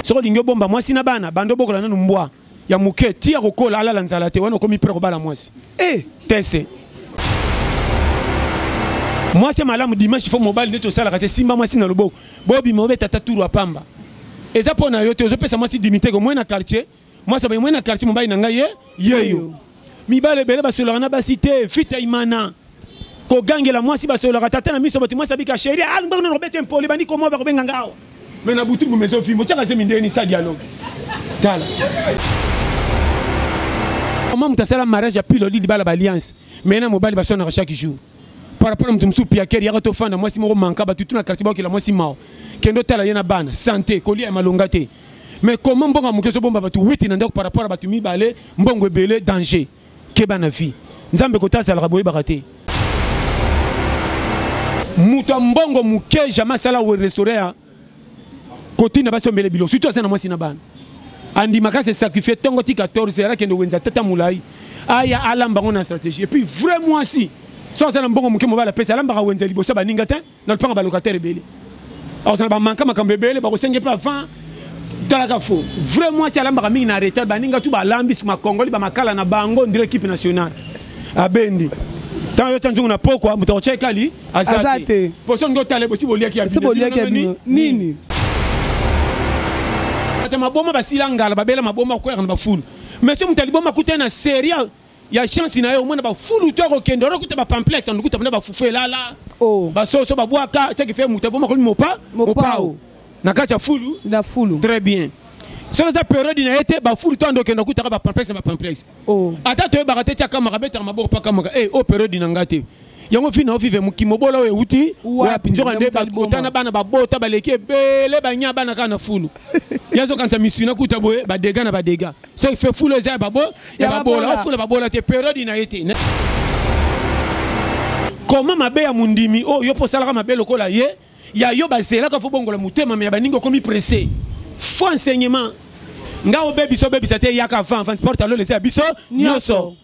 soki olingi obomba mwasi na bana banda obokola nanu mbwa ya moke ti ya kokola alala nzala te wana okomi pre kobala mwasi e eh! teste mwasi ya malamu dimanche fo mobali nde tosalaka te simba mwasi na loboko bobima obeta ta turu apamba eza mpo na yo te ozopesa mwasi dimiteke omoi na quartier Moi ça moi na quartier mobali na ngai ye yeyo. Mibale bele basolaka na basi te fita imana. Kogangela mwasi basolaka tata na miso bato mwasi abika chérie ah ngbango na robete impoli bandi komoa bakobenga ngao. Mais na butu bumezo fimbo chaka zemi ndeni sa dialogue. Tala. Comment moto asala mariage ya pilo lili bala ba alliance mais na mobali baswanaka chaque jour par rapport na moto mosusu piakere yaka tofanda mwasi moko manka bato tuna quartier bakela mwasi mao kende otala ye na bana sante kolia ya malonga te mais comment mbongo moke ezobomba bato witi na ndako par rapport ya bato mibale mbongo ebele danger keba na vie nzambe kota azalaka boyebaka te moto ya mbongo moke jamais asala restaure ya kotina basi ombele bilo surtout aza na mwasi na bana andimaka se sacrifie ntongo ti 14 heure akende wenza tata molai aya alamba yango na stratégie epuis vrai mwasi so aza na mbongo moke mobali apesi alambaka wenza liboso baninga te na lopanga ba locataire ebele akozala bamanka makambo ebele bakosenge mpe avant talaka fo vrai mwasi alambaka mingi na retard baninga tu balambi makongoli bamakala na bango ndire ekipe nationale abendi ntango yotya nzungu na pokwa moto akotya ekali aza te poso olingi otala ebosi boliaki ya nini ata maboma basila ngala babela maboma koyaka na bafulu mais so moto aliboma akutani na serie ya chance na ye omona bafulu to akokende wana okuta bapamplex na lokuta mpena bafufu elala oh. basoso babwaka ceki fe moto aboma komi mopa mopao na kati ya fulu na fulu très bien soki eza periode na ye te bafulu to andokende okutaka bapamplex na bapamplex oh. ata toyebaka te ti akamaka abetaka maboko mpo akamaka e eh, o oh, periode na ngai te yango fina ovive moki mobola oyo euti wapi nzoka nde bakota na bana babota baleki ebele banya bana kaka na fulu ye azokanisa misina kuta boye badega na badega soki fe fulu eza ya babola ofula babola te periode na ye te koma mabe ya mondimi oyo oh, yo mpo osalaka mabe lokola ye ya yo bazelaka fo bongola motema me ya baningi okomi presse fo enseignement nga obebisa obebisa te eyaka avant avant porte alolesa ya biso nyonso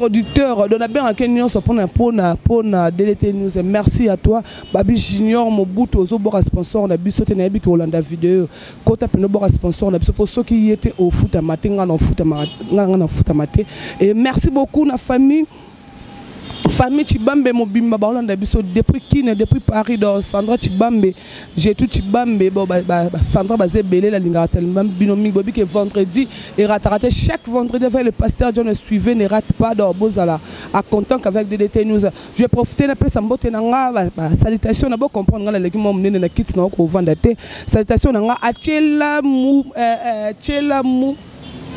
producteur donc nabengaka ye nyonso mpona mpona mpona ddt news merci à toi babi junior mobutu ozoboka sponsor na biso te nayebi ke olanda video kota mpena oboka sponsor na biso mpo soki ye te ofutama te ngai ngai na ofutama te et merci beaucoup na famille famille chibambe mobimba baolanda biso depuis kine depuis paris do sandra chibambe J'ai tout chibambe bon ba ba, ba Sandra baze belé la lingara tellement bino mingi bobi que vendredi et ratarate chaque vendredi avec le pasteur John suivez ne rate pas d'or bozala à content qu'avec DDT News je vais profiter na pesa mbote na nga ba, ba salutation na bo comprendre nga na leki mo munene na kit na ko vanda te salutation na nga achela mu euh, achela euh, mu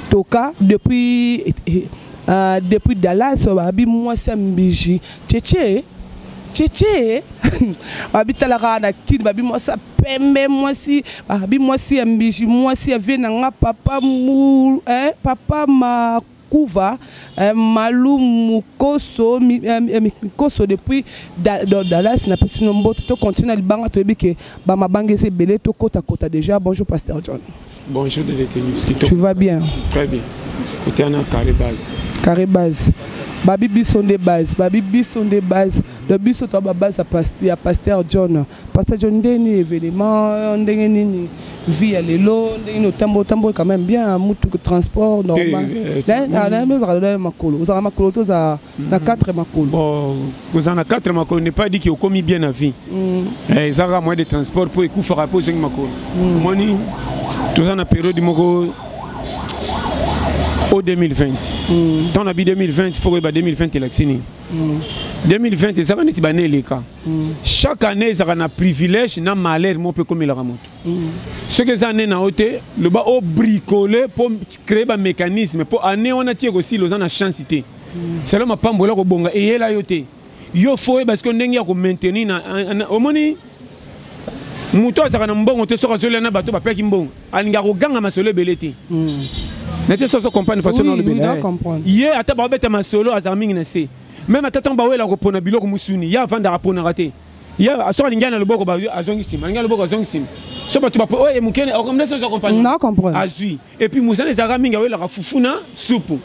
toka depuis euh, depuis Dallas babi mwasi ya mbiji Cheche cheche babi talaka na kin babi mwasi ya pembe mwasi babi mwasi ya mbiji mwasi ya vie na nga papa mu eh, papa ma kuva eh, malu mukoso mi, eh, eh mikoso depuis da, da, dallas na pesi no mbote to continue na libanga toyebi ke bamabanga eza ebele tokota kota déjà bonjour pasteur john Bonjour de détenus. Tu vas bien Très bien. Côté ana carré base. Carré base. Babi biso nde base, babi biso nde base. Le biso to ba base à pasteur, pasteur John. Pasteur John ndeni événement, ndenge nini vie ya lelo ndenge nini otambo otambo quand même bien mutu transport normal. Eh, eh, eh, na na na makolo. Ozala makolo to za na mm. quatre makolo bon kozala na quatre makolo n'est pas dit que okomi bien na vie mm. eh, eza kaka moyen de transport mpo ekufaka mpo ozongi makolo mm. omoni toza na periode moko o 2020 ntango na bi 2020 fo koyeba 2020 elakisi nini 2020 ezalaka neti bana eleka chaque année ezalaka na privilège na malheur moko mpe ekomelaka moto soki eza année na yo te loba obricole mpo créer bamécanisme mpo année wana ti ekosila oza na chance te selo mapambo eloko bonga eyela yo te yo fo oyeba sikoyo ndenge ya komaintenir na omoni moto azalaka na mbongo te soki azolia na bato bapeki mbongo alingaka koganga masolo ebele te hmm. na te soso comprendre façon na olobela ye ata baobeta masolo azalaka mingi na se meme ata ntango bawela kopona biloko mosuni ye avandaka aponaka te ye soki alingi ya na loboko azongi nsima alingi ya loboko azongi nsima so bato bapo oyo mokene okomdesozwa comprendre azwi et puis mosala ezalaka mingi awelaka fufu na supu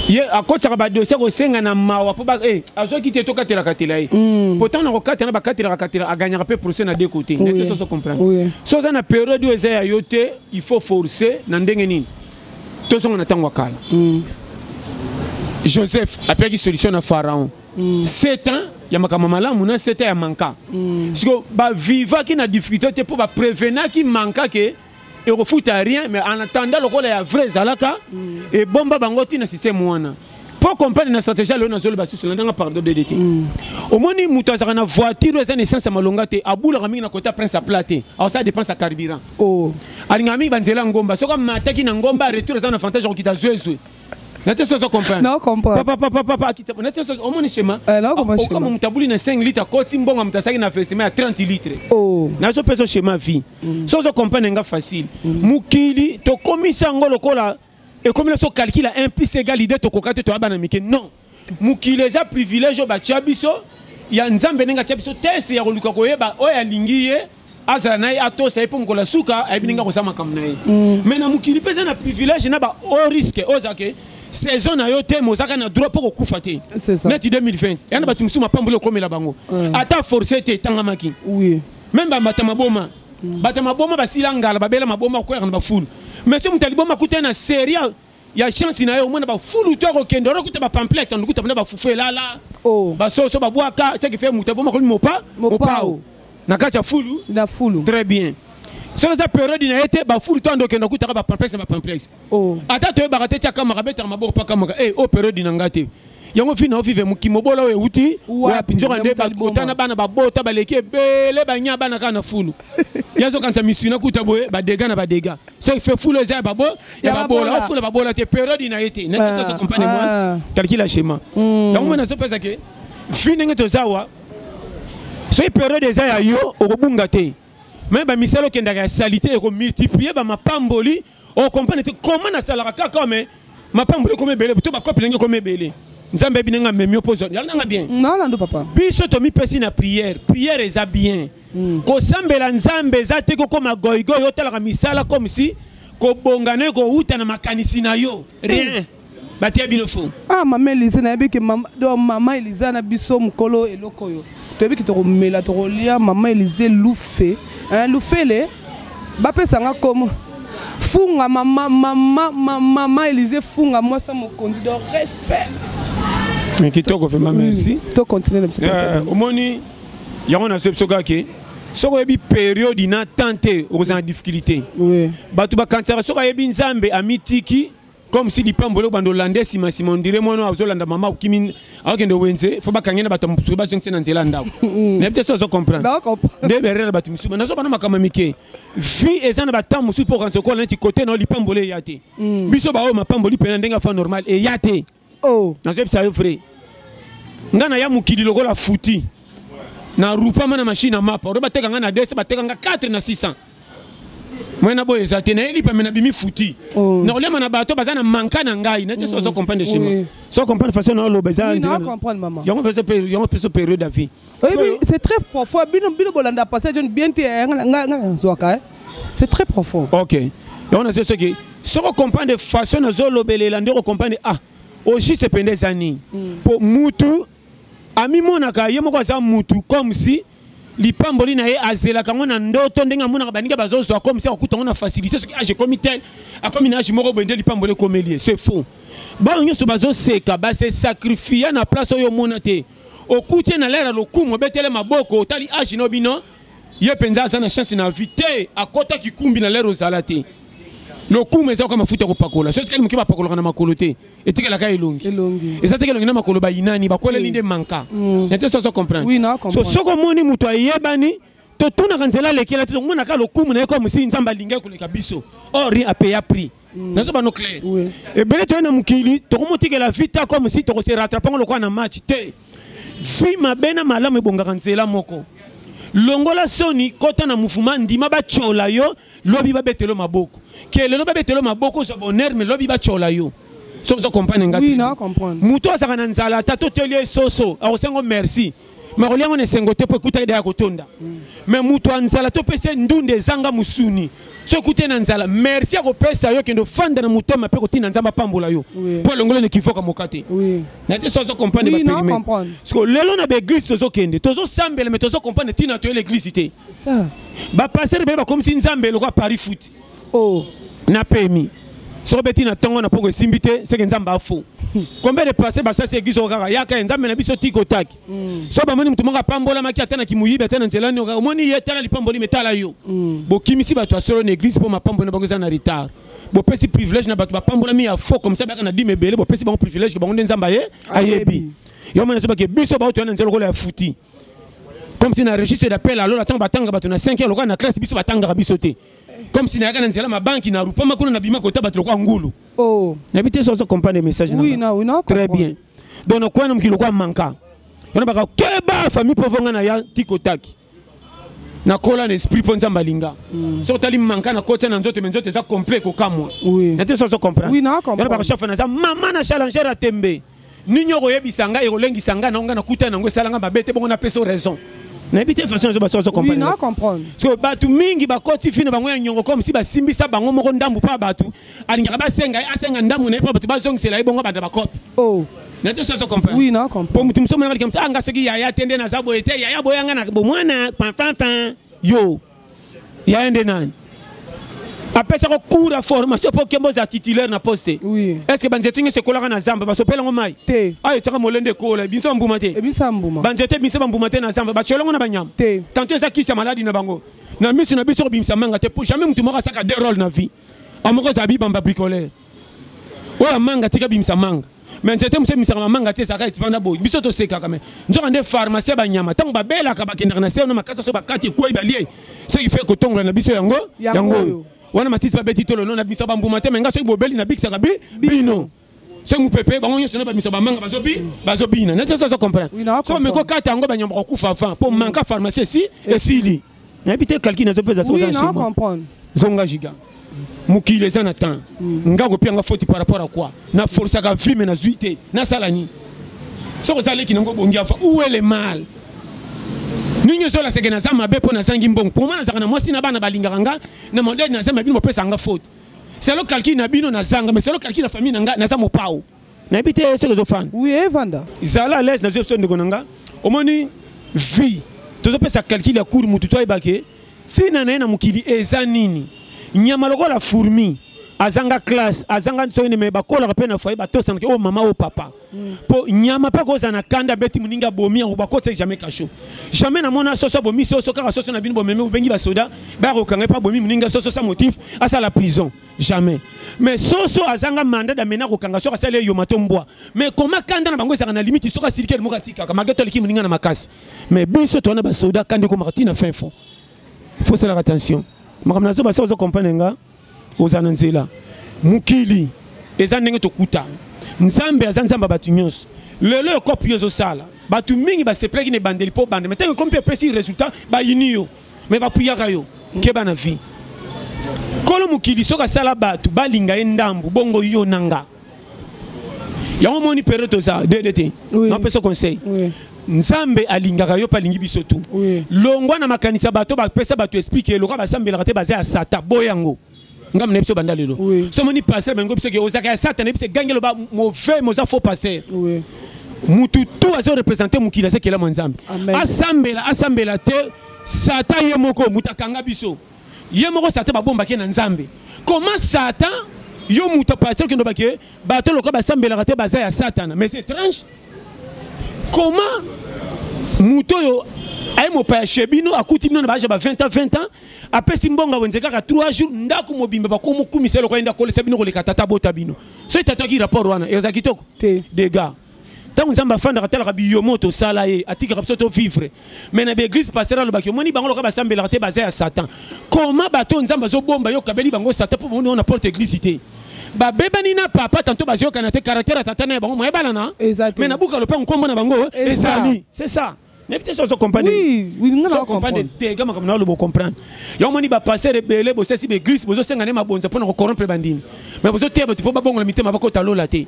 ye akotaka badosie kosenga na mawa mpo eh, azwaki te tokatelakatela ye hmm. pourtant na kokatela na bakatelaka katela aganyaka mpe procès na deux côté nete soso comprendre so oza na periode oyo eza ya yo te il faut forcer na ndenge nini tozonga na ntango ya kala hmm. joseph apekaki solution na pharaon hmm. sept ans ya makambo malamu na sept ans ya manka siko bavivaki na difficulté te mpo baprevenaki manka ke ekofuta rien mais en attendant lokola ya vrai ezalaka mm. ebomba bango ntina système wana mpo comprendre na stratégie aloyo nazoloba susu landanga pardon dede te mm. omoni moto azalaka na voiture oyo eza na essence ya malonga te abulaka mingi na kota prince aplat te aosala dépense ya carburant oh. alingaka mingi banzela ya ngomba soki amataki na ngomba retour eza na avantage ya kokita zwezwe nateso ozo comprendrenateso omoni shema okoma moto abuli na 5 litre akoti mbongo moto asaki na festime ya 30 litre oh. nazo mpe so shema vie mm. so ozo comprendre nga facile mm. mokili tokomisi yango lokola ekomi na so calcule 1 plus egal idée tokoka te toyaba na mike non mokili eza privilège oyo batya biso ya nzambe ndenge atya biso tese ya koluka koyeba oyo alingi ye azala na ye atosa ye mpo mokolo ya suka ayebi ndenge akosa makambo na ye mm. mais na mokili mpe eza na privilège na ba haut risque oyo ezake saison na yo te mozaka na droit mpo kokufa te neti 2020 ya na bato mosusu mapamboli okomela bango ata force te etangamaki meme bambata maboma mm. bata maboma basila ngala babela maboma koyaka na bafulu mais so moto aliboma akutani na serie ya chance na ye omona bafulu to akokende wana okuta bapamplex na lokuta mpena bafufu elala oh. basoso babwaka soki fe moto aboma komi mopa mopao na kati ya fulu na fulu très bien soki eza periode na ye te bafulu to andokende okutaka bapamplex na bapamplex oh. ata toyebaka te ti akamaka abetaka maboko mpo akamaka e eh, o oh, periode na ngai te yango fina ovive mokimobola oyo euti wapi nzoka nde bakota na bana babota baleki ebele banya bana kaka na fulu ye azokanisa misina kuta boye badega na badega soki fe fulu eza ya babola ofula babola te periode na ye te natisasa ah, compagne mwa ah. calcula schéma hmm. yango mwana azopesa ke fi ndenge toza wa soki periode eza ya yo okobunga te me bamisala okendaka ya salite ekomultiplie bamapamboli o comprendre te comment nasalaka kaka oyo mais mapango ekoma ebele to bakopi ndenge ekoma ebele nzambe ayebi ndenge amemi yo mpo ozwa yala nanga bien nalando papa biso tomipesi na prière prière eza bien hmm. kosambela nzambe eza te kokoma goigoi otalaka misala comme si kobonga na yo kowuta na makanisi na yo rien batia bino fo ah mama elize nayebi ke mama elize na biso mokolo eloko oyo toyebi ke tokomela tokolia mama elize lufe lufele bapesa nga komo funga mama mama mama elize funga mwasi ya mokonzi do respect kitoko vraiment merci to continue na biso euh, omoni yango na biso kaka ke soki oyebi periode na temps te okozala na difficulté bato bakanisaka soki ayebi nzambe amitiki comme si lipambo eloko bando olande nsima nsima ondire mwana oyo azolanda mama okimi akokende wenze fo bakange na bato mosusu bazongisi na nzela ya ndako mm. nayebi te so ozo comprendre nde berere na bato mosusu nazoba na makambo mike vie eza na batemp mosusu mpo okanisa okola neti kote na yo lipamboli eya te mm. biso baoyo mapamboli mpena ndenge afa normal eya te oh. nazoyebisa yo vrai ngai naya mokili lokola futi na rupama na mashine ya mapa oyo bateka ngai na 200 bateka ngai 4 na 600 moi na boye eza te naye lipa me nabimi futi oh. na kolema na bato baza na manka na ngai na jesu ozo comprendre shema so comprendre façon na oloba eza yango mpe yango mpe so période ya vie oyebi c'est très profond bino bino bolanda passage on bien te eh, nga nazwaka eh. c'est très profond ok yango nazo soki soki okomprendre façon nazolobelela nde okomprendre ah ojuste mpenza eza nini mpo mm. mutu amimonaka ye moko aza mutu comme si lipamboli na ye azelaka yango na ndoto ndenge amonaka baninga bazozwa comme si akokuta yango na facilité soki age ekomi tel akomi na age moko boye nde lipamboli ekomeli ye c'est faux baoyo nyonso bazoseka base sacrifia na place oyo omona te okuti ye na lere ya lokumu obetele maboko otali age no bino ye mpenza aza na chance na vie te akota kikumbi na lere ozala te lokumu eza kaka mafuta ya kopakola soki kani moke bapakolaka na makolo te etikelaka elongi eza teke elongi na makolo bayinani bakweleli nde manka mm. na te soso comprendre so soki omoni moto ayebani totunaka nzela alekela te tomonaka lokumu na ye kaka mosili nzambe alingaki koleka biso or rien apeya prix mm. nazo bano clair ebele toye na mokili tokomotikela vita kaka mosili tokose rattrapango lokola na match te vi mabe na malamu ebongaka nzela moko longola soni kota na mufuma ndima batyola yo lobi babetelo maboko ke lelo babetelo maboko ozwa bonheur me lobi batyola yo soki ozo comprendre nga oui, moto azalaka na nzala ata toteli ye soso akosengo merci makolia yango na esengo te mpo ekutaki daya kotonda me mm. moto ya nzala topesa ye ndunda ezanga mosuni soki ekute na nzala merci akopesa yo kende ofanda na motema mpe kotinda nzambe apambola yo mpo alongoli na kivoka moka te na te so azo comprendre baperime siko lelo na baeglise tozokende tozosambela me tozo comprendre ntina toye leglise te ba pasteur pe bakomisi nzambe lokola paris foot oh na pemi soki beti na ntongo na mpongo esimbi te seke nzambe afo combien de passé basasi eglise oko kaka yaka ye nzambe na biso tiki otaki mm. so bamoni moto moko apambolamaki ata na kimoyibi ata na nzela nioka omoni ye tala lipamboli me tala yo mm. bokimisi bato ya solo na eglise mpo mapamboli na bango eza na retard bopesi privilège na bato bapambolami ya fo comme ça bayaka na dime ebele bopesi bango privilège ke bango nde nzambe aye ayebi yo mona ezobake biso baotoya na nzela lokola ya futi comme si na registre d'appel alola ntango batanga bato na 5 heure lokola na classe biso batangaka biso te comme si nayaka na nzela mabanki na rupama kuna nabima kota bato lokola ngulu oh. nayebi te sozo comprendre message oui, na, oui, très bien donc nakwani mokili lokola manka wana baka keba famille mpo vonga na ya tikotaki nakola na esprit mpo nzambe alinga mm. soki otali manka nakotia na nzoto me nzoto eza complet kokamwa na te sozo comprendre wana baka chafe naza mama na challenger ya tembe Nini okoyebisa ngai ekolengisa ngai na ngai nakutana na yango esala ngai mabe te bongo napesa raison. nayebi te façon ezo baso comprendre so bato mingi bakoti fino bango ya nyongo comme si basimbisa bango moko ndambu mpo ya bato alingaka basenga ye asenga ndambu na ye mpo bato bazongisela ye bongo banda bakope oh. nato soso comprendrempo moto mosusu omonaka likambo anga soki yaya te nde naza boye te yaya boyanga na bomwana fanfanfan yo ya ye nde nani apesaka cours ya formation mpo okemba ozala titulaire na poste oui. est ce que banzete nyonso ekolaka na zamba basopela yango mai te ayo etyaka molende ekola ebimisa bambuma te ebimisa mbuma banzete ebimisa bambuma te na zamba batyola yango na banyama te tanto eza kisi ya maladi na bango na miso na biso kobimisa manga te mpo jamais motu moko asaka de role na vie amoko ozala bibamba bricoleur oyo amanga tika bimisa manga me nzete mosu emisaka mamanga te ezalaka etivanda boye biso tosekaka me nzoka nde pharmacie banyama ntango babelaka bakendaka na seo na makasi aso bakati ekwei balie soki fe kotongola na biso yango yango oyo wana matiti babeti tolo no na bisa bambuma te me nga soki bobeli nabikisaka bi bino soki mopepe bango nyonso na bamisa bamanga bazobi bazobina neti oso azo comprendre so mekokata yango banyama bakokufa avant mpo manka pharmacie esi esili nayebi te calcul nazo pesa soki oza comprendre zonga giga mokili eza na temps mm. nga kopia nga foti par rapport à quoi na forcaka vie me nazwi te nasala nini soki oza leki nango obongi afa où est le mal ndenge ozola seke naza mabe mpo nazangi mbongo mpo mwa nazalaka na mwasi na bana balingaka nga na modele naza ma bino bopesaka nga faute selo calcul na bino nazanga mais selo calcul na famille na nga naza mopao nayebi te soki ezofanda oui evanda zala à l'aise nazwi biso ndeko na nga omoni vie tozopesa calcul ya cour motu to ayeba ke ntina na ye na mokili eza nini nyama lokola fourmi azanga classe azanga nsoni me bakolaka mpe na foye batosanaka oyo oh, mama oyo oh, papa mpo mm. nyama mpe akozala na kanda abeti moninga abomi yango bakotisa jamais kasho jamais namona soso abomi soso kaka soso na bino bomemi bobengi basoda baya kokanga mpe abomi moninga soso sa motif asala prison jamais mais soso azanga mandat d'amener kokanga soki asali eyoma to mbwa mais koma kanda na bango ezalaka na limite soki asiliki elimoko atikaka malgre to aleki moninga na makasi mais biso towana basoda kanda ekomaka ntina fin fond faut salaka attention makambo na zoba soki ozo comprendre nga ozala na nzela mokili eza ndenge tokuta nzambe aza nzambe ya bato nyonso lelo ekopi yo ezosala bato mingi basepelaki na ebandeli mpo obanda mai ntango ekomi mpe epesi résultat bayini yo mais bapuyaka yo keba na vie kolo mokili soki asala bato balinga ye ndambu bongo yo na nga yango omoni periode toza dede te napesa conseil nzambe alingaka yo mpe alingi biso tu longwa na makanisi ya bato bapesa bato esplike lokola basambelaka te baza ya sata boya yango ngambo na biso banda lelo so omoni pasteur bango biso ke ozalaka ya satana biso egangi eloba mauvais moza faux pasteur mutu tu azo représente mokili aza kelama nzambe asambela asambela te satan ye moko moto akanga biso ye moko satan babombaki ye na nzambe comment satan yo moto pasteur okende olobaki ye bato lokola basambelaka te baza ya satana mais c'est étrange comment moto oyo aye mopaya chez bino akuti bino na baage ba 20 ans 20 ans apesi mbongo wenze kaka 3 jours ndako mobimba bakomi kumisa eloko yenda kolesa bino koleka tata bota bino so etataki rapport wana eza kitoko te dega ntango nzambe afandaka atalaka biyomo tosala ye atikaka biso tovivre mai na baeglise pasteur alobaki omoni bango loka basambelaka te baza ya satan koma bato oyo nzambe azobomba yo okabeli bango satan mpo bomoni na porte eglise te babebani na papa tanto bazoyokana te caractère ya tata na ya bango moyebalana mai nabuka lopango nkombo na bango ezali c'est ça nayebi te soso comprendre te ga makambo na oloba ocomprendre yango omoni bapasteur ebele bosesi baeglise bozosenga nde mabonza mpo na kocorrompre bandimi mai bozoteya bato mpo babongola mitema bakota lola te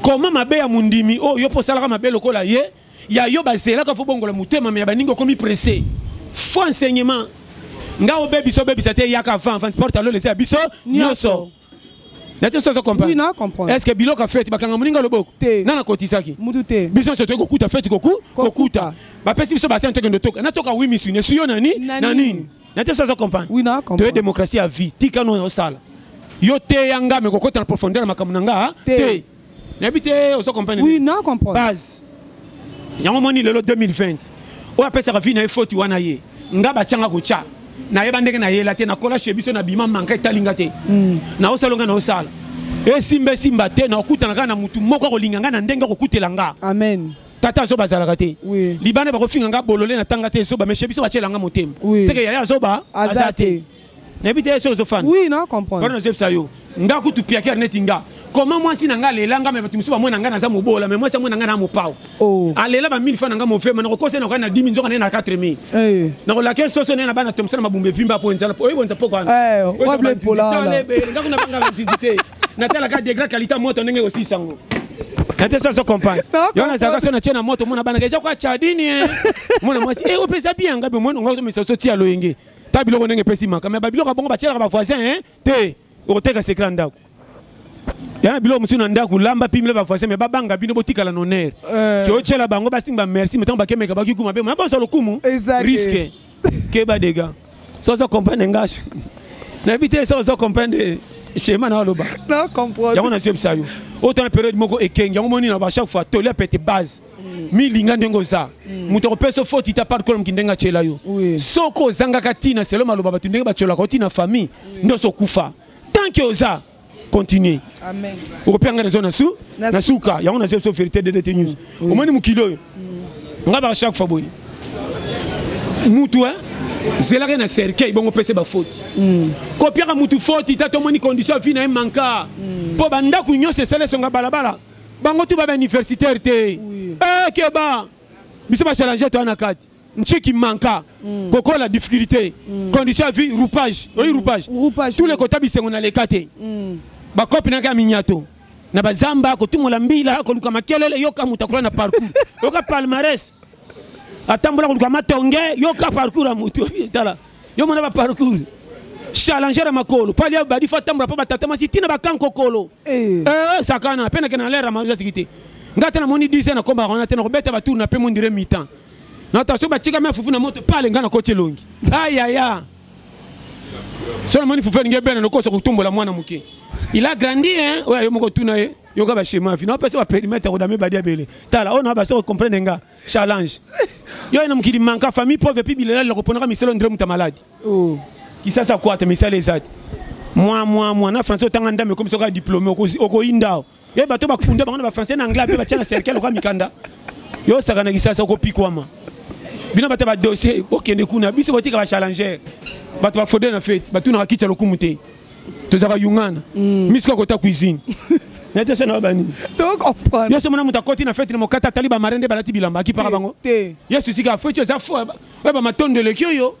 koma mabe ya mondimi oyo oh, yo mpo osalaka mabe lokola ye ya yo bazelaka fo bongola motema me ya baningi okomi presse fo enseignement nga obebisa obebisa te eyaka avant avant porte lola eza ya biso nyonso nate soki ozo comprendre oui, na comprendre est ce que biloko fete bakanga moninga loboko te na nakotisaki mutu te biso nyonso toyei kokuta fete koku kokuta bapesi biso basani tokende toka natoka wi misu nesu yo na nini na nini nate soki ozo comprendre oui, na comprendre toye démocratie ya vie tika no osala yo teya nga me kokota na profondeur ya makambo na nga te nayebi te ozo comprendre oui na comprendre base yango moni lelo 2020 oyo apesaka vie na ye foti wana ye nga batyanga kotya nayeba ndenge nayela te nakola chez biso na bima manka etali nga te hmm. naosala nga naosala esimba esimba te nakokutana kaka na motu moko akolinga nga na ndenge akokutela nga amen tata azoba azalaka te oui. libanda bakofinga nga bolole na tanga te zoba meshe biso batyela nga motema oui. seke yaya azoba aza te nayebi te soki ozofanda oui na comprendre pardon nazebisa yo nga kutu piaker neti nga koma mwasi na ngai alela ngai me bato mosusu bamoi na ngai naza mobola me mwasi amoi na ngai na mopao oh. alela ba 1000 fa na ngai mofema nakokosa nakokai na 10 nzoka naye na 4 mi eh. nakolaka ye soso naye na bana tomosana mabumba evimba mpo enzala oyebi onza poko wanaakuna banga banzinzi te natalaka degré qualité ya moto ndenge ekosisa yango nate soso compagne yo nazalaka so natie na moto mona banaka eza kwa chadini eh. mona mwasi e eh, opeza bianga be mwana ngai otomisa so tia loyenge ta biloko ndenge epesi maka me babiloko ya bongo batyelaka bavoisin hein? te okoteka sekre ya ndako ya na biloko mosusu na ndako lamba pimela bavoisin me babanga bino botikala na honneur eh. kiotyela bango basingi bamerci me ntango bakemeka bakikuma be mona bosa lokumu riske keba dega so ozo comprendre ngashi nayebi te so ozo comprendre schéma na aloba yango nazwi ebisa yo otana periode moko ekengi yango moni na ba chaque fois toli apete base mm. milinga ndenge oza mm. moto akopesa foti ta par kolomki ndenge atyela yo soki ozangaka ntina selo maloba bato ndenge batyolaka oti na famille nde oso okufa tant ke oza continue okopia ngai nazo na suka yango nazo so verité de dete news mm. omoni mokili oyo ngai baka chaque fois boye mutu eh? zelaka na cercueil bongo pese bafoti mm. kopiaka mutu foti ta tomoni condition ya vi na ye manka mpo mm. bandako nyonso esala esonga balabala bango tu ba ba universitaire te oui. eh keba biso ba challenge to na kati nchiki manka mm. kokola difficulté mm. condition ya vie roupage oyi mm. roupage mm. tous les kota bisengo na leka te mm. bakopi naka ya minyato na bazamba kotumola mbila koluka makelele yoka moto akola na parcours yoka palmarès atambola koluka matonge yoka parcours ya moto tala yo mona ba parcours challenger ya makolo pali ya badi fa tambola mpo batata masi ntina bakankokolo eh. eh, sakana mpe nakende na lere ya mazasiki te ngai te namoni 10 ans nakombaka wana te nakobeta batour na mpe mondire mitan nata soki batikami afufu na moto pale ngai nakoti elongi ayaya so namoni fufu elingi ebene nokosa kotumbola mwana moke il a grandi hein oyo yo moko tuna ye yoka bashema fina opesa baperimetre kodame badi abele tala oyo na basoko comprendre nga challenge yo na mokili manka famille pauvre epuis bilela liloko ponaka miselo ndre moto ya maladi oh. kisasa kwata misala eza te mwa mwa mwa na français otanga ndambe ekomi soki diplôme okoyinda o ye bato bakufunda bango na bafrançais na anglais mpe batya na cercle oka mikanda yo osaka na kisasa okopikwama bino bata badossier bokende kuna biso kotika bachallenger bato bafode na fete batunaka kitya lokumu te tozalaka yungana mm. misu kaka kota cuisine natesa na bani yesu omona moto akoti na feti na mokata atali bamare nde balati bilamba akipaka bango yesu esika feti eza fo oya bamatondo eleki oyo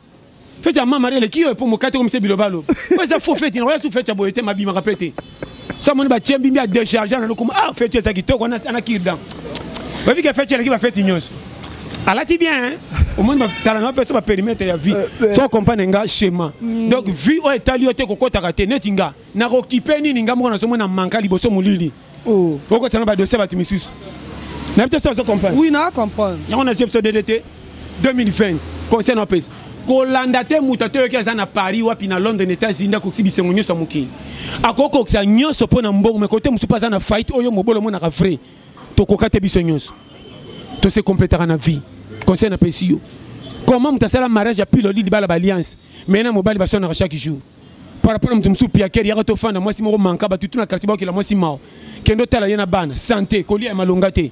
feti ya mamare eleki oyo mpo mokati okomisa bilobalo oyo eza fo feti nako yesu feti ya boye te mabimaka mpe te sa moni batie mbimbi ya decharge ananokoma ah feti eza kitoko ana kirdan oyebi ke feti eleki bafeti nyonso alati bien hein? omoni bakala na bapesa baperimetre ya vie so eh, ocompagne eh. nga schéma mm. donc vie oyo etali yo te kokotaka te neti nga nakokipe nini nga moko nazomona manka liboso molili oh. okotisa na badosie bato misusu nayebi te so ozo comprendre oui na comprendre yango nazwi biso dede te 2020 conseil napesa kolanda te moto atoyoki aza na paris wapi na london états-unis nde akokisi bisengo nyonso ya mokili akokokisa nyonso mpo na mbongo me kote mosusu mpe aza na faillite oyo mobolo omonaka vrai tokoka te biso nyonso tose completaka na vie conseil napesi yo comment moto asala mariage ya piloli libala baalliance mai na mobali baswanaka chaque jour par rapport na moto mosusu piakere yaka tofanda mwasi moko manka bato tuna quartier bakokela mwasi mao kende otala ye na bana sante kolia ya malonga te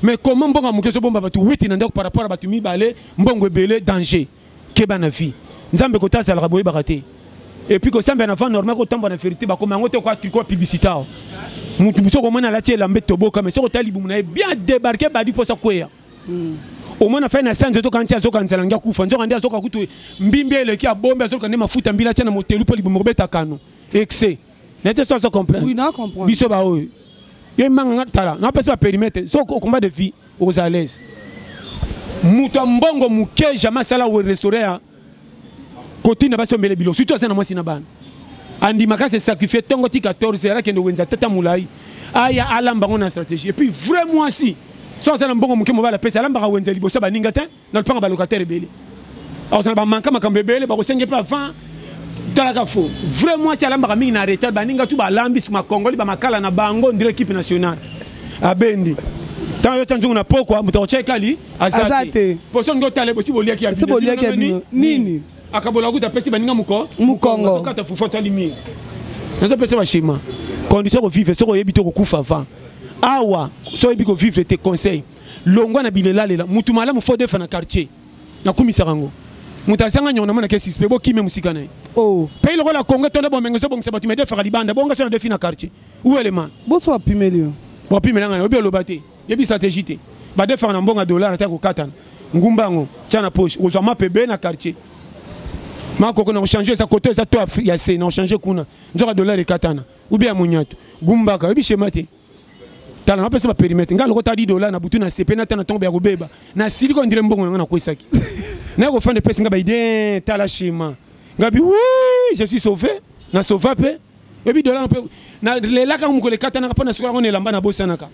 mais comment mbongo ya moke ezobomba bato witi na ndako par rapport ya bato mibale mbongo ebele danger keba na vie nzambe kota azalaka boyebaka te epuis kosambela na vent normal kotambwa na ferite bakoma yango te kwa publicité awa motu mosu okomona alati elamba etoboka mai soki otala libumu na ye bien débarqué badi mposa kweya hmm. omona fai na sanza ezoka nti azoka nzala ngi akufa nzoka nde azoka kutu mbimbi eleki abombi azoka nde mafuta mbila atya na motelu mpo libumu kobeta kano excès nete so so comprendre oui na comprendre biso ba oyo yo manga nga tala na pesa perimetre so au combat de vie aux à l'aise mutu mbongo muke jamais sala we restaurer ya koti na basi ombele bilo surtout asana mwasi na bana andima kasi sacrifier tongo ti 14 heures akende wenza tata mulai aya alamba ngo na stratégie et puis vrai mwasi so asana mbongo muke mobala pesa alambaka wenza liboso baninga te na lopanga ba locataire ebele akozala bamanka makambo ebele bakosenge mpe avant talaka fo vrai mwasi alambaka mingi na retard baninga tu balambi makongoli bamakala na bango ndire ekipe nationale abendi ntango yotya nzungu na pokwa moto akotya ekali aza te poso olingi otala ebosi boliaki ya bino nini akabola kuta apesi baninga moko mokongo azokata fufu atali mingi nazopesa bashima condition kovivre soki oyebi te okokufa avant awa so oyebi kovivre te conseil longwa na bilelalela mutu malamu fo defa na quartier nakumisaka yango moto azanga nyongo namona ke suspect bokime mosika na ye oh. pays lokola congo tonda bomenge ezobongisa bato medefaka libanda bonga so na defi na quartier uelema boso apimeli yo bopimela ngai obi oloba te yebi stratégie te badefaka na mbongo ya dollar ata kokatana ngumba yango tya na poche okozwa mape be na quartier makoko na kochange eza koto eza to ya se na kochange kuna nzoka dollar ekatana ubi ya monyatu gumbaka oyebi shema te tala napesa baperimetre ngai lokota di dola na butu na sepe na ta na ntongo ya kobeba na siliki oyo ndire mbongo na ngai nakwesaki naye kofanda epesi ngai baide tala shema ngai bi wi je suis sauvé na sauva mpe oyebi dola mpe nalelaka yango mokolo ekatanaka mpo nasukolaka ngo na elamba nabosanaka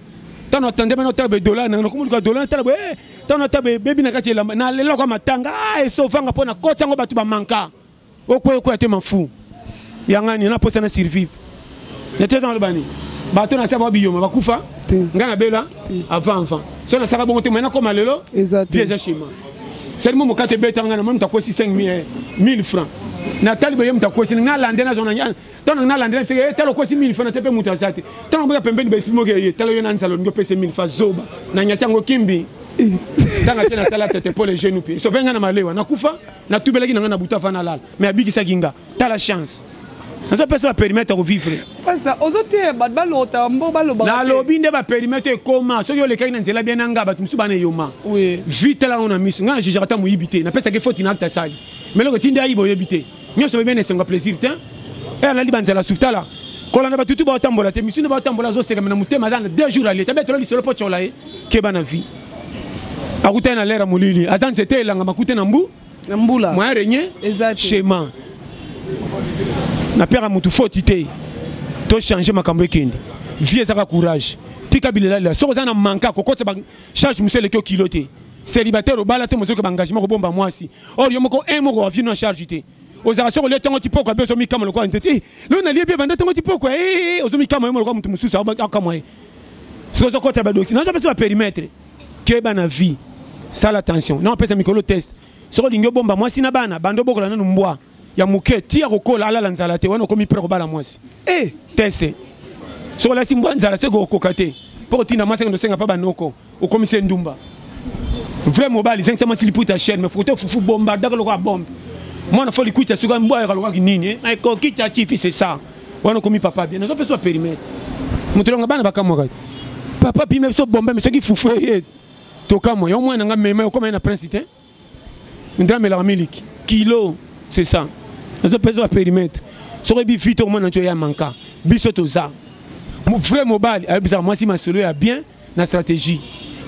ntango natandema natala badola nanga nakomoluka dola natala boye eh, ntango natala bebebi na kati ya elamba nalelaka matanga ah, esovanga mpo nakoti yango bato bamanka okoya okoya te mafu yangani na posa na survivre nete na lobani bato na saba biyoma bakufa nga na bela avant avant so na saka bongo te mais na koma lelo vie eza chez moi seulement mokate beta nga na moni takosi 5000 1000 francs na tali boye moto akosi nga lande na zona ntango nga lande na fike eh, tala okosi 1000 francs na te mpe moto aza te ntango boya pembeni baesprit moko eye tala yo na nzala olingi opesa 1000 francs zoba na nyati yango kimbi ntango te nasala tete mpo le jeune mpe sope nga na malewa nakufa natubelaki na ngai na butu avant nalala mais abikisaki nga tala chance nazopesa baperimetre ya kovivre nalobi nde baperimetre ekoma soki olekaki na nzela bia na ngai bato mosusu bana eyoma vi tala yango na miso ngai na jugaka ata moyibi te napesaki foti na acte asali meloko etindi ayiba oyebi te nyonso bebia na esengo ya plaisir te e alali banzela sufutala kolanda batutu baotambola te misu nde baotambola azosekame na motema aza na deux jours alie tabetelo lisolo mpo tyola ye keba na vie akutani na lera molili aza nzete elanga makute na mbu na mbula moyen regne chema napeka motu foti te tochange makambo ekende vie ezaka courage tika bilelalela soki oza na manka kokotisa bacharge mosu eleki okilo te célibataire obala te mozoki baengagement kobomba mwasi or yo moko un moko wa vie no charge te ozalaka soki olia ntango tipoko abe ozomikama lokola nzete eh, lelo nalie bie banda ntango tipoko eh, eh, ozomikama yo lokola moto mosusu akamwa ye soki ozokota badoki nazo pesa baperimetre keba na vie sala attention na opesa mikolo test soki olingi obomba mwasi na bana banda obokola nanu mbwa ya moke ti akokola alala nzala te wana okomi pre kobala mwasi e teste soki olasi mbwa nzala se kokoka te mpo kotinda mwasi akende osenga mpa banoko okomisi endumba vrai mobali zengisa mwasi liputa chaine me fokote fufu bomba daka lokola bombe mwana fo likuita soki mbwa yaka lokaki nini eh? ekoki ta tifi c'est ça wana okomi papa bien nazo pesa perimetre moto longa bana bakamwaka te papa pime biso bombe me soki fufu eye eh, eh. tokamwa yo mwana nga mema okoma ye na prince te ndra melaka miliki kilo c'est ça nazo pesa ba périmètre soki bi vite au moins na ya manka biso toza vrai mobali ayebisaka mwasi masolo ya bien na stratégie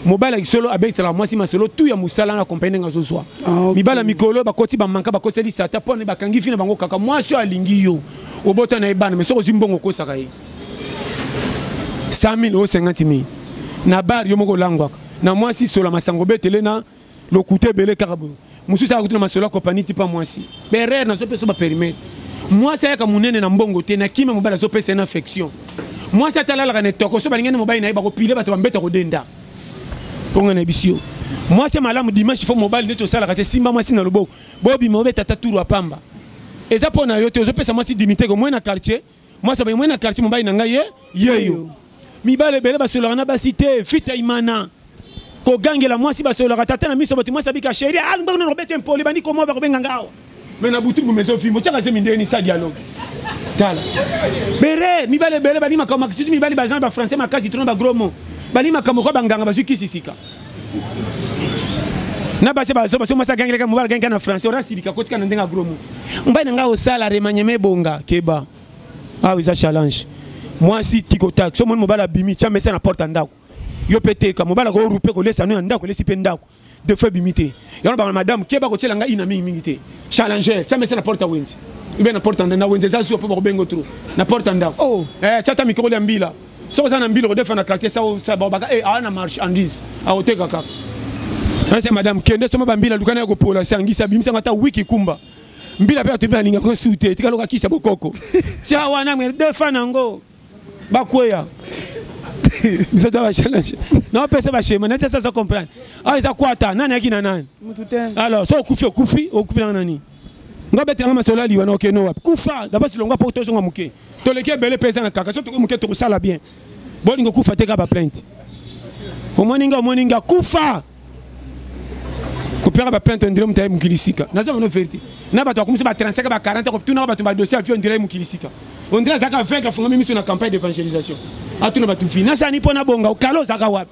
mobali ya kisolo abekiselaka mwasi masolo tu ya mosala na kompani ndenge azozwa ah, mibala mikolo bakoti bamanka bakoselisa ata mpo bakangi fi na bango kaka mwasi oyo alingi yo obota na ye bana me soki ozwi mbongo okosaka ye 100 000 o 50 000 na bar yo moko olangwaka na mwasi sola masango betele na lokuta ebele kaka boye mosusu ayaka kutuna masolo ya kopani tipa mwasi berere nazopesa baperimete mwasi ayaka monene na mbongo te na kimia mobali azopesa ye na affection mwasi atalalaka na etoko so balingani mobali na ye bakopile bato bambeta kodenda mponga na bisi yo mwasi ya malamu dimanche fo mobali nde tosalaka te simba mwasi na loboko bobima obeta ata turu apamba eza mpo na yo te ozopesa mwasi dimiteke omoi na quartier Moi ça moi na quartier mobali na ngai ye yeyo. Mibale bele basolaka na basi te fita imana. Kogangela mwasi basolaka tata na miso bato mwasi abika chérie ah ngbango na robete impoli bandi komoa bakobenga ngao. Mais na butu bumezo fimbo chaka zemi ndeni sa dialogue. Tala. Bere mibale bele bani makambo makisitu mibali bazana ba français makasi trop na ba gros mots. Bani makambo kwa banganga bazwi kisi sika. na basi bazoba soki mwasi agangeleka mobali agangeleka na français ora silika kotika na ndenge agromo mbai na ngai osala remanieme ebonga keba awa eza challenge mwasi tikotaki so omoni mobali abimi tya mesa na porte ya ndako yo mpe teka mobali akorupe kolesa no ya ndako elesi mpe ndako de fois ebimi te yango bango madame keba kotyela ngai ina mingi mingi te challenger tya mesa na porte ya wenzi ube na porte na wenzi eza zuwa mpo bakobengo tro na porte ya ndako oh. eh, tya ta mikokoli ya mbila soki oza na mbila okodefa na quartier saobaka e awa na marchandise akoteka kaka nase madame kende soma bambila luka naye kopola se angisa bimisanga ata wiki kumba mbila mpe atobi alinga ko su te tikaloka kisa bokoko tya wana me defa nango bakweya biso ta bachallenge naopesa bashema nati asaza comprendre awa ah, eza kwata nani ayaki na nani alors so okufi okufi okufi nanga nani nga betelanga masolo aliwa na okeno wapi kufa dabasi longwa mpo tozonga moke toleki ebele mpe eza na kaka so tokoki moke tokosala bien bolingi okufa te kaka baplainte omoni nga omoni nga kufa kopeka baplainte ondire moto aye mokili sika naza bano verité na bato bakomisi ba 35 ba 40 kotunaka bato badossier avi ondire aye mokili sika ondire azalaka vaincre afungami miso na campagne d'évangélisation atuna bato vi nasani mpo nabonga okala ozalaka wapi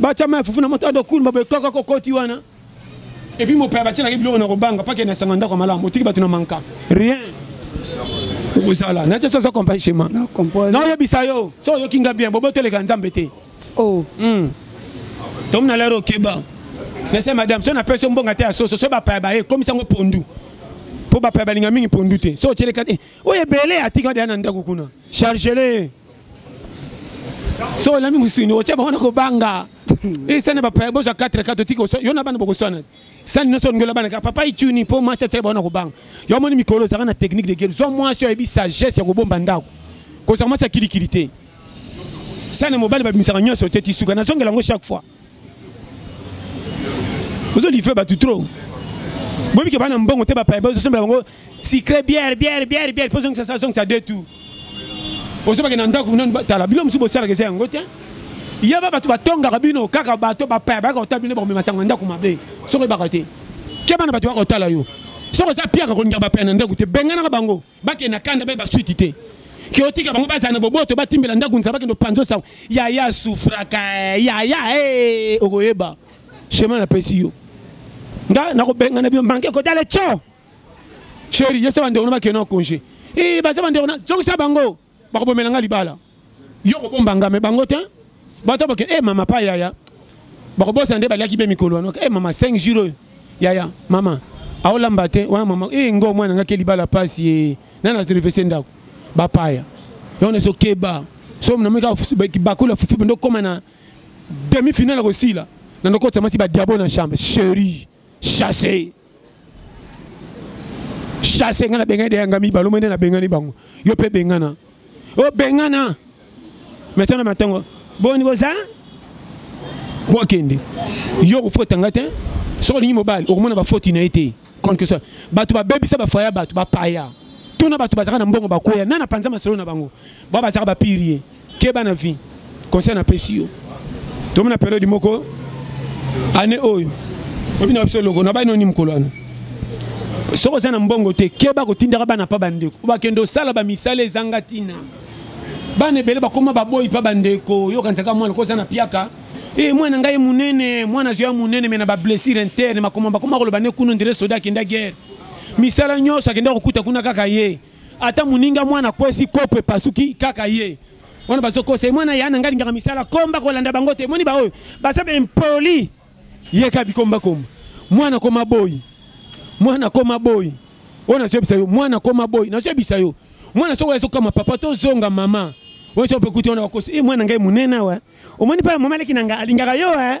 batyama ya fufu na moto ado kulumba boye kaka kokoti wana epuis mopaya batyelaki biloko na kobanga pake na esanga ndako ya malamu otiki bato na manka rien okozala natya soza compagne chema naoyebisa yo so oyoki nga bien boboteleka nzambe te oh. hmm. tomona lere okeba nase madame so napesi yo mbonga te ya soso so bapaya baye ekomisa yango pondu mpo bapaya balinga mingi pondu te so otyeleka te oyo ebele atika deya na ndako kuna chargele soki olambi mosuni otya bango na kobanga esana bapaya bozwa 4 4 otiki yo na bana bokoswana sani nyonso olingi olabana kaka papa icuni mpo mwasi atele bango na kobanga yo omoni mikolo ozalaka na technique de guerre zwa mwasi oyebi sagesse ya kobomba ndako kozala mwasi ya kilikili te sani mobali babimisaka nyonso te tisuka nazongela yango chaque fois ozo livre bato trop boyebi ke bana mbongo te bapaya bazosembela bango secret bière bière bière bière mpo zongisa sa zongisa de tout ozobake na ndako nani batala bino mosusu bosalaka eza yango te yeba bato batongaka bino kaka bato bapaya bayaka kotala bino bakomema sango na ndako mabe soki oyebaka te keba na bato baka kotala yo soki oza piaka kolingaka bapaya na ndako te benganaka bango bakende na kanda bayeba suite te kiotika bango bazala na boboto batimbela ndako nzala bakende opanzo sango yaya sufraka eh, yaya eh, okoyeba chemin napesi yo nga nakobengana bino manke kotale co sheri yebisa bandeko na bakende na congé eh, baza bandeko na zongisa bango bakobomela nga libala yo kobomba nga me bango te bato boke e eh, mama pa yaya bakobosana nde baliaki be mikolo wana e eh, mama 5 jour oyo yaya mama aolamba te wana mama e eh, ngo mwana nga ke libala pasi e nani atorefese ndako bapaya yango na sokeba so nameka bakula fufu bende okoma na demi finale kosila na ndokotisa mwasi badiabo na chambre cherie chasse chasse ngai nabengani deyanga mibale omoi nde nabengani bango yo mpe bengana obengana oh, metana matango boni boza bokende yo okofota ngai te soki olingi mobali okomona bafoti na ye te contre soit bato babebisa bafaya bato bapaya tuna bato bazalaka na mbongo bakweya nani apanza masolo na bango bao bazalaka bapirie keba na vie conseil na pesi yo tomona periode moko année oyo obi na biso loko na bai noni mokolo wana soki oza na mbongo te keba kotindaka bana mpa bandeko bakende osala bamisala ezanga ntina bana ebele bakoma baboyi mpa bandeko oyokanisaka mwana ko oza na piaka e eh, mwana ngai monene mwana azwi ya monene me na bablessure interne makoma bakoma koloba ne kuna ndele soda akenda guerre misala nyonso akenda kokuta kuna kaka ye ata muninga mwana kwesi kopo epasuki kaka ye wana bazokosa ye mwana ya na ngai alingaka misala komba kolanda bango te moni baoyo baza baimpoli yeka bikombakomba mwana koma boyi mwana koma boyi oyo nazoyebisa yo mwana koma boyi nazoyebisa yo mwana soko ezokama papa tozonga mama oyo sope kuti wana bakosi e eh, mwana ngai monene awa omoni mpe mama aleki na ngai alingaka yo e eh?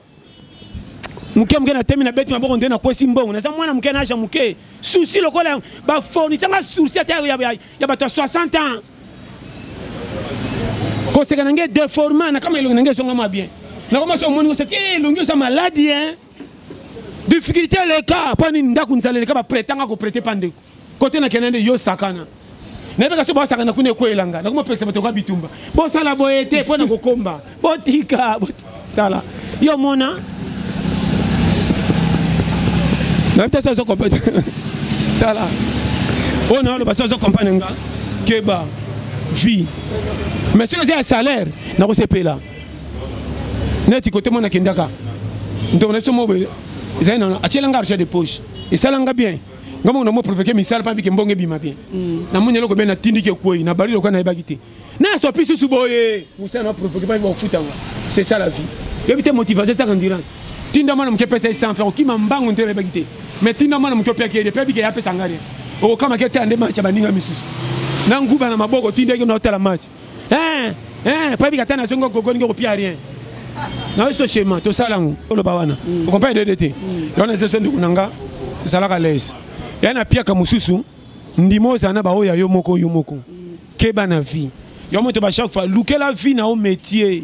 moke moke na temi na beti maboko nde nakwesi mbongo naza mwana moke naja moke souci lokola bafournisanga souci ata ya bato ya 60 ans koseka na ngai deforma na kama elongi na ngai ezongama bien nakomasi omoni koseki eh, elongi oza maladi e eh. difficulté eleka mpo nini ndako nzala eleka baprete anga koprete mpa ndeko kote na kenda nde yo sakana nayebaka soki basakana kuna ekwe elanga nakomi opekisa bato kwa bitumba bosala boye te mpo na kokomba botika tala yo mona nayebi te soki ozokomprendre tala oyo naoloba soki ozokomprendre nga keba vie mais soki eza ya salaire nakosepela neti kote mwana akendaka ntongo na biso mobele ezali na atyelanga argent de poche esalanga bien nga moko na mwa provoke misala mpa bike mbongo ebima bien mm. na moni eloko bie na tindiki ekwei na bali lokola nayebaki te na asopi susu boye mosala na provoke mpa bakofuta nga c'est ça la vie yebi te motivation esaka endurance tinda mwana moke epesa ye sans faire okima mbango nte nayebaki te mais tinda mwana moke opiaki ye de mpe abike ye apesa nga rien okokamaki te ande match ya baninga misusu na nguba na maboko tindaki na otala match eh eh pa bika tana zongo gogo ngo kopia rien na yo sochema tosala yango oloba wana mm. okompai dede te mm. wana eza ndeko na nga ezalaka lese ya na piaka mosusu ndima ozala na baoyo ya yo moko yo moko mm. keba na vie yo moto ba chaque fois lukela vie na yo métier